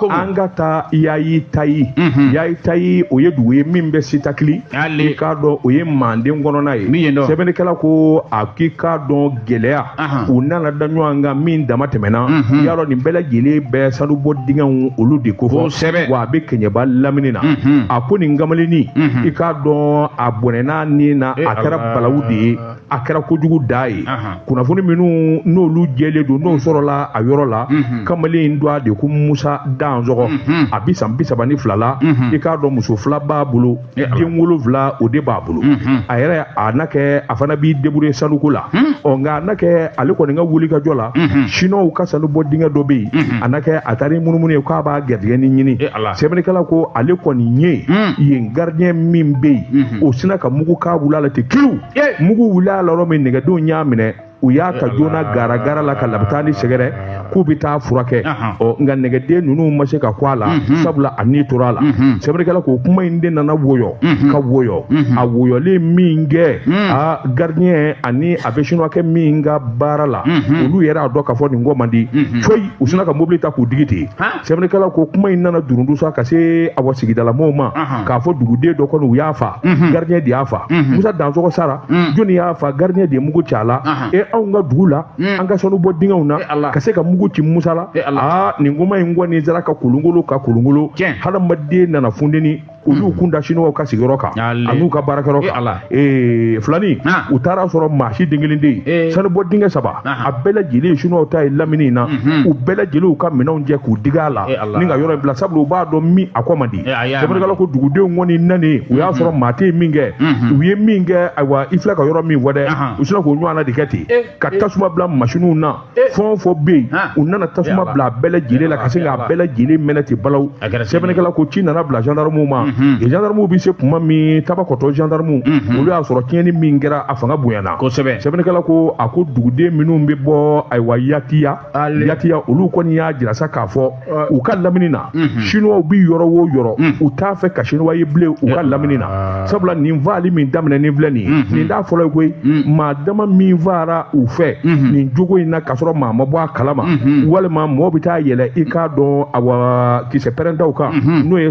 an ka taa yayi tayi mhm. yayi tayi o ye dugu ye min bɛ sitakili i k'a dɔn o ye manden kɔnɔna ye sɛbɛnnikɛla ko a k'i k'a dɔn gɛlɛya u nana da ɲɔgɔn kan min dama tɛmɛna mhm. y'a dɔn nin bɛɛ lajɛlen bɛ sanubɔ dingɛw olu de kofɔ wa a bɛ kɛɲɛba lamini na mhm. a ko nin kamalennin i k'a dɔn a bɔnɛna ni na a kɛra balawu de ye a kɛra kojugu dan ye kunnafoni minnu n'olu jɛlen don n'o sɔrɔla a yɔrɔ la kamalen in tɔgɔ de ko musa dansɔgɔ a bi san bi saba ni fila la i k'a dɔn muso fila b'a bolo den wolonwula o de b'a bolo a yɛrɛ a na kɛ a fana b'i débrouiller sanuko la ɔ nka a na kɛ ale kɔni ka wuli ka jɔ la siniwaw ka sanu bɔ dingɛ dɔ bɛ yen a na kɛ a taara munumunu yen k'a b'a garijɛgɛ ni ɲini sɛbɛnnikɛla ko ale kɔni ye yen gardien min bɛ yen o sinna ka mugu k'a wuli a la ten kiriw mugu wulila a la yɔrɔ min nɛgɛdenw y'a minɛ u y'a ta joona garagara la ka labitani sɛgɛrɛ k'u bɛ taa furakɛ ɔ nka nɛgɛden ninnu ma se ka kɔ a la sabula a ni tora a la sɛbɛnnikɛla ko kuma in de nana woyɔ ka woyɔ a woyɔlen min kɛ a gardien ani a bɛ sinuwakɛ min ka baara la olu yɛrɛ y'a dɔn k'a fɔ nin kɔ man di koyi u sinna ka mobili ta k'u digi ten sɛbɛnnikɛla ko kuma in nana durundu sa ka se awa sigidala mɔɔw ma Ahan. k'a fɔ duguden dɔ kɔni u y'a fa Mhm. gardien de y'a fa Mhm. musa dansɔgɔ sara Mhm. jɔni y'a fa gardien de ye mugu ci a la Ahan. e anw ka dugu la Mhm. an ka sanu bɔ dingɛw na E Ala. ka se ka mugu ci musa la E Ala. aa nin kuma in kɔni sera ka kolongolo ka kolongolo Tiɲɛ. hadamaden nana funteni u y'u kun da siniwaw ka sigiyɔrɔ kan Yali. an'u ka baarakɛyɔrɔ E kan Ala. Ee, filani Ah. u taara sɔrɔ maa si den kelen tɛ yen Ee. sanubɔ dingɛ saba Aha. a bɛɛ lajɛlen ye siniwaw ta ye lamini in na u bɛɛ lajɛlen u ka minɛnw cɛ k'u digi a la E Ala. ni ka yɔrɔ in bila sabula u b'a dɔn min a kɔ man di E, a y'a sɛbɛnnikɛla ko dugudenw kɔni nanen u y'a sɔrɔ maa tɛ yen min kɛ u ye min kɛ ayiwa i filɛ ka yɔrɔ min fɔ dɛ Aha. u sinna k'o ɲɔgɔnna de kɛ ten E, ka e. tasuma bila masiniw na fɛn o fɛn bɛ yen u nana tasuma bila a bɛɛ lajɛlen la ka se k'a bɛɛ lajɛlen mɛnɛ ten balaw sɛbɛnnikɛla ko ci nana bila gendarmew ma gendarmew bɛ se kuma min tabakɔtɔ gendarmew olu y'a sɔrɔ tiɲɛni min kɛra a fanga bonyana kosɛbɛ sɛbɛnnikɛla ko a ko duguden minnu bɛ bɔ ayiwa yatiya yatiya olu kɔni y'a jira sa k'a fɔ u ka lamini na chinois bi yɔrɔ wo yɔrɔ u t'a fɛ ka chinois ye bilen u ka lamini na sabula nin faali min daminɛnen filɛ nin ye nin t'a fɔlɔ ye koyi maa dama min faara u fɛ nin jogo in na k'a sɔrɔ maa ma bɔ a kalama walima mɔɔ bɛ taa yɛlɛ i k'a dɔn awa kisɛ pɛrɛntaw kan n'o ye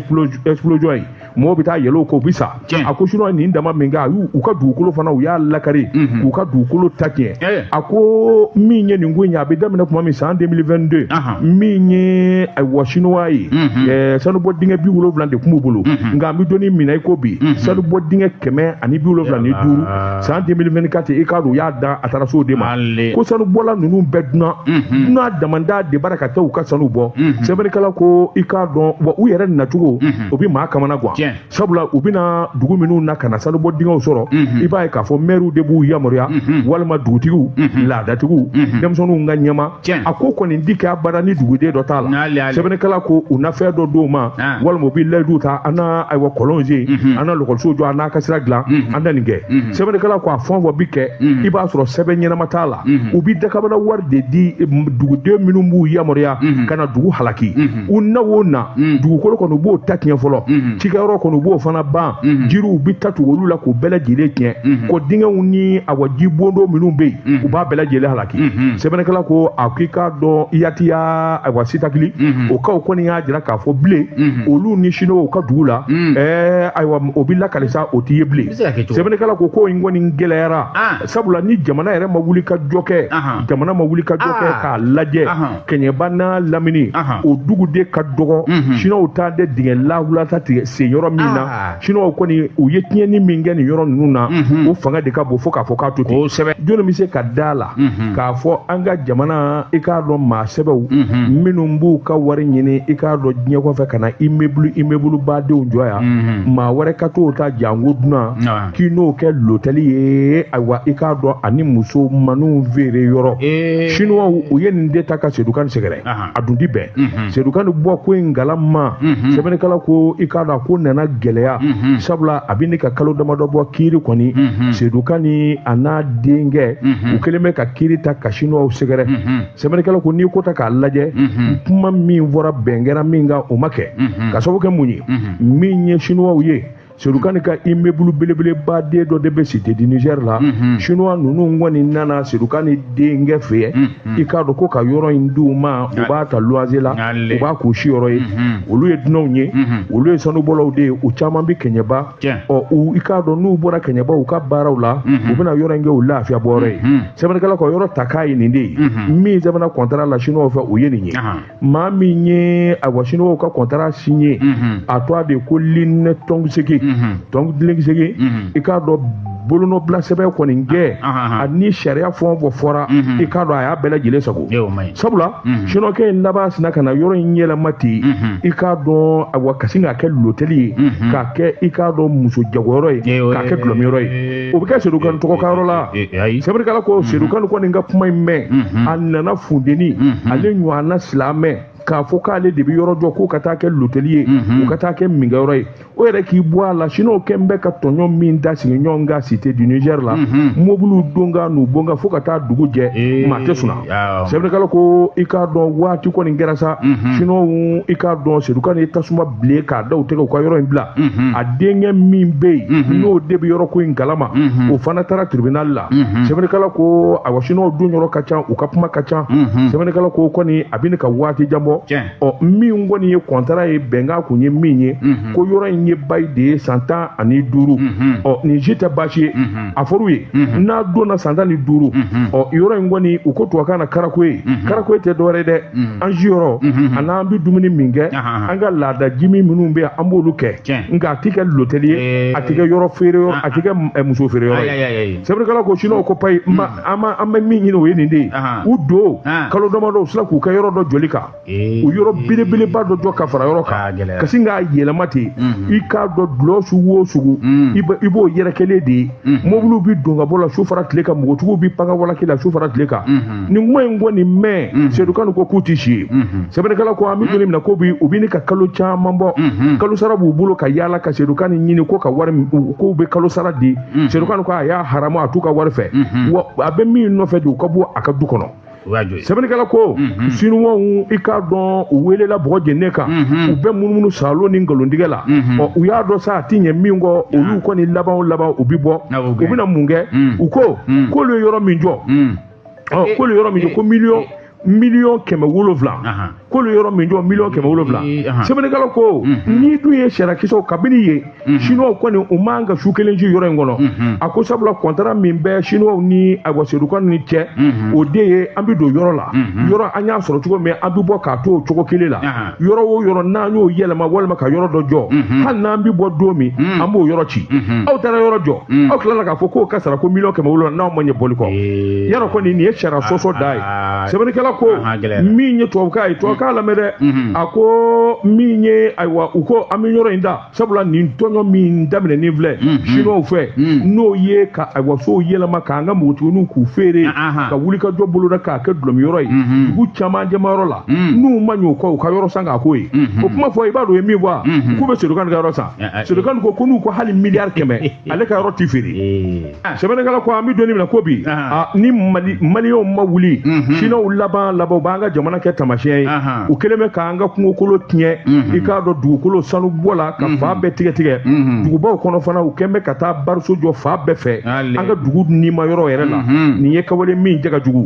explosion ye mɔgɔw bɛ taa yɛlɛ o kan u bɛ sa a ko sinuwa nin dama min kɛ ayiwa u ka dugukolo fana u y'a lakari mhm. k'u ka dugukolo ta tiɲɛ a ko min ye nin ko in ye a bɛ daminɛ tuma min san 2022 min ye ayiwa sinuwa ye mhm. sanubɔ dingɛ bi wolonwula de tun b'u bolo mhm. nka an bɛ don min na i ko bi sanubɔ dingɛ kɛmɛ ani bi wolonwula ni duuru san 2024 i k'a dɔn u y'a da a taara so de ma ko sanubɔla ninnu bɛɛ dunan dunan damanda de bara ka taa u ka sanu bɔ sɛbɛnnikɛla ko i k'a dɔn wa u yɛrɛ nacogo o bɛ maa kamana gan Tiɲɛ. sabula u bɛ na dugu minnu na ka na sanubɔ dingɛw sɔrɔ i b'a ye k'a fɔ mɛriw de b'u yamaruya walima dugutigiw laadatigiw denmisɛnninw ka ɲɛmaa Tiɲɛ. a ko kɔni tɛ kɛ abada ni duguden dɔ t'a la N'ale, ale. sɛbɛnnikɛla ko u na fɛn dɔ d'u ma Ah. walima u bɛ layidu ta an na ayiwa kɔlɔnw sen an na lɔkɔlisow jɔ an n'a ka sira dilan an na nin kɛ sɛbɛnnikɛla ko a fɛn o fɛn bɛ kɛ i b'a sɔrɔ sɛbɛn ɲɛnama t'a la u bɛ dakabana wari de di eh, duguden minnu b'u yamaruya ka na dugu halaki u na o na dugukolo kɔni u b'o ta tiɲɛ fɔlɔ cikɛyɔrɔ kɔni u b'o fana ban jiriw bɛ ta tugu olu la k'u bɛɛ lajɛlen tiɲɛ kɔ dingɛw ni awa ji bondo minnu bɛ yen u b'a bɛɛ lajɛlen halaki sɛbɛnnikɛla ko a k'i k'a dɔn yatiya awa sitakili o kaw kɔni y'a jira k'a fɔ bilen olu ni sinuwaw ka dugu la ɛɛ ayiwa o bɛ lakali sa o t'i ye bilen sɛbɛnnikɛla ko ko in kɔni gɛlɛyara sabula ni jamana yɛrɛ ma wuli ka jɔ kɛ jamana ma wuli ka jɔ kɛ k'a lajɛ kɛɲɛba n'a lamini o dugu de ka dɔgɔ mhm. sinuwaw ta de dingɛ lawulata tigɛ sen yɔrɔ min na ah. sinuwaw kɔni u ye tiɲɛni min kɛ nin yɔrɔ ninnu na mhm. o fanga de ka bon fo k'a fɔ k'a to ten kosɛbɛ jɔnni bɛ se ka da a la mhm. k'a fɔ an ka jamana i k'a dɔn maa sɛbɛw minnu b'u ka wari ɲini i k'a dɔn diɲɛ kɔfɛ ka na imebulu imebulu badenw jɔ yan maa wɛrɛ ka t'o ta janko dunan k'i n'o kɛ lotɛli ye ayiwa i k'a dɔn ani muso maninw feere yɔrɔ sinuwaw u ye nin de ta ka sedu kani sɛgɛrɛ a dun tɛ bɛn mhm. sedu kani bɔ ko in kalama mhm. sɛbɛnnikɛla ko i k'a dɔn ko nana gɛlɛya mhm. sabula a bɛ ɲini ka kalo damadɔ bɔ kiri kɔni sedu kani a n'a denkɛ u kɛlen bɛ ka kiri ta ka sinuwaw sɛgɛrɛ sɛbɛnnikɛla ko n'i ko ta k'a lajɛ kuma min fɔra bɛn kɛra min kan o ma kɛ ka sababu kɛ mun ye min ye sinuwaw ye Sedu kani ka imebulu belebeleba den dɔ de bɛ site di nizɛri la sinuwa ninnu kɔni nana sedu kani denkɛ fɛ ye i k'a dɔn ko ka yɔrɔ in d'u ma u b'a ta luwase la u b'a k'u si yɔrɔ ye olu ye dunanw ye olu ye sanubɔlaw de ye u caman bɛ kɛɲɛba ɔ i k'a dɔn n'u bɔra kɛɲɛba u ka baaraw la u bɛna yɔrɔ in kɛ u lafiya bɔ yɔrɔ ye sɛbɛnnikɛla ko yɔrɔ ta kan ye nin de ye min sɛbɛnna kɔntara la sinuwaw fɛ o ye nin ye maa min ye ayiwa sinuwaw ka kɔntara siɲe a tɔgɔ de ko linɛ tɔnsegin tɔnseegin i k'a dɔn bolonɔ bila sɛbɛn kɔni kɛ ani sariya fɛn o fɛn fɔra i k'a dɔn a y'a bɛɛ lajɛlen sagon sabula sinuwakɛ in laban sina ka na yɔrɔ in yɛlɛma ten i k'a dɔn ayiwa ka sin k'a kɛ lotɛli ye k'a kɛ i k'a dɔn muso jagoyɔrɔ ye k'a kɛ dulɔminyɔrɔ ye o bɛ kɛ sedukan tɔgɔ ka yɔrɔ la sɛbɛnnikɛla ko sedukan kɔni ka kuma in mɛn a nana funteni ale ɲɔgɔnna silamɛ k'a fɔ k'ale de bɛ yɔrɔ jɔ k'o ka taa kɛ lotɛli ye u ka taa kɛ minkɛyɔrɔ ye o yɛrɛ k'i bɔ a la sinuwakɛ bɛ ka tɔɲɔ min da sigiɲɔgɔn kan cité du Niger la mɔbiliw donkan n'u bɔkan fo ka taa dugu jɛ maa tɛ sun Awɔ. sɛbɛnnikɛla ko i k'a dɔn waati kɔni kɛra sa Mhm. sinuwaw i k'a dɔn sedukan ye tasuma bilen k'a da u tɛgɛ u ka yɔrɔ in bila Mhm. a denkɛ min bɛ yen Mhm. n'o de bɛ yɔrɔ ko in kalama Mhm. o fana taara tribunal la Mhm. sɛbɛnnikɛla ko awa sinuwaw donyɔrɔ ka ca u ka kuma ka ca Mhm. sɛbɛnnikɛla ko kɔni a bɛ ɲini ka waati jan bɔ Tiɲɛ. ɔ min kɔni ye kɔntara ye bɛnkan kun ye min ye Mhm. ko yɔrɔ in ye bayi de ye san tan ani duuru Mhm. ɔ nin si tɛ baasi ye Mhm. a fɔr'u ye n'a donna san tan ni duuru ɔ yɔrɔ in kɔni u ko tubabukan na karakoye karakoye tɛ dɔwɛrɛ ye dɛ an siyɔrɔ ani an bɛ dumuni min kɛ an ka laada jimi minnu bɛ yan an b'olu kɛ nka a tɛ kɛ lotɛli ye a tɛ kɛ yɔrɔ feere yɔrɔ a tɛ kɛ muso feere yɔrɔ ye sɛbɛnnikɛla ko sinuwaw ko payi an bɛ min ɲini o ye nin de ye u don kalo damadɔ u sera k'u kɛ yɔrɔ dɔ jɔli kan u yɔrɔ belebeleba dɔ jɔ ka fara yɔrɔ kan ka sin k'a yɛlɛma ten i k'a dɔn dulɔ sugu o sugu i b'o yɛrɛkɛlen de ye mobiliw bɛ don ka bɔ la su fara tile kan npogotigiw bɛ pan ka walaki la su fara tile kan nin kuma in kɔni mɛn sedukan ko k'u tɛ si yen sɛbɛnnikɛla ko an bɛ don min na ko bi u bɛ ɲini ka kalo caman bɔ kalo sara b'u bolo ka yaala ka sedukan ɲini ko ka wari k'u bɛ kalo sara di sedukan ko a y'a haramu a t'u ka wari fɛ wa a bɛ min nɔfɛ de u ka bɔ a ka du kɔnɔ sɛbɛnnikɛla ko mhm. sinuwaw i k'a dɔn u welela bɔgɔ jeninen kan mhm. u bɛ munumunu salo ni nkalontigɛ la mhm. ɔ u y'a dɔn sa a ti ɲɛ min kɔ olu kɔni laban o laban u bi bɔ ah, u bɛna mun kɛ u ko k'olu ye yɔrɔ min jɔ ɔ k'olu ye yɔrɔ min jɔ ko miliyɔn miliyɔn kɛmɛ wolonwula k'olu ye yɔrɔ min jɔ miliyɔn kɛmɛ wolonwula sɛbɛnnikɛla ko n'i dun ye sariyakisɛw kabini ye Mhm. chinois kɔni u man ka su kelen si yɔrɔ in kɔnɔ mhm. a ko sabula kɔntara min bɛ chinois ni ayiwa sedukan ni cɛ mhm. o de ye an bɛ don yɔrɔ la yɔrɔ an y'a sɔrɔ cogo min an bɛ bɔ k'a to o cogo kelen la yɔrɔ o yɔrɔ n'an y'o yɛlɛma walima ka yɔrɔ dɔ jɔ hali n'an bɛ bɔ don min an b'o yɔrɔ ci aw taara yɔrɔ jɔ aw tilala k'a fɔ k'o ka sara ko miliyɔn kɛmɛ wolonwula n'aw ma ɲɛ bɔli kɔ yɔrɔ kɔni nin ye sariya sɔsɔ dan ye sɛbɛnnikɛla ko min ye tubabukan ye tubabukan lamɛn dɛ a ko min ye ayiwa u ko an bɛ yɔrɔ in da sabula nin tɔɲɔ min daminɛnen filɛ siniwaw fɛ n'o ye ka ayiwa sow yɛlɛma k'an ka npogotigininw k'u feere ka wuli ka jɔ bɔlɔnda k'a kɛ dulɔminyɔrɔ ye dugu caman jɛmayɔrɔ la n'u ma ɲɛ o kɔ u ka yɔrɔ san k'a k'o ye o kuma fɔ i b'a dɔn o ye min fɔ a k'u bɛ Sedu Kan ka yɔrɔ san Sedu Kan ko ko n'u ko hali miliyari kɛmɛ ale ka yɔrɔ tɛ feere Ah. sɛbɛnnikɛla ko an bɛ don min na ko bi ah. ni maliyɛnw ma wuli mhm. siniwaw laban laban u b'an ka jamana kɛ tamasiyɛn ye u kɛlen bɛ k'an ka kungokolo tiɲɛ mhm. i k'a dɔn dugukolo sanu bɔ la ka mhm. fan bɛɛ tigɛ tigɛ dugubaw kɔnɔ fana u kɛlen bɛ ka taa bariso jɔ fan bɛɛ fɛ an ka dugu nima yɔrɔ yɛrɛ la nin ye kɛwale min cɛ ka jugu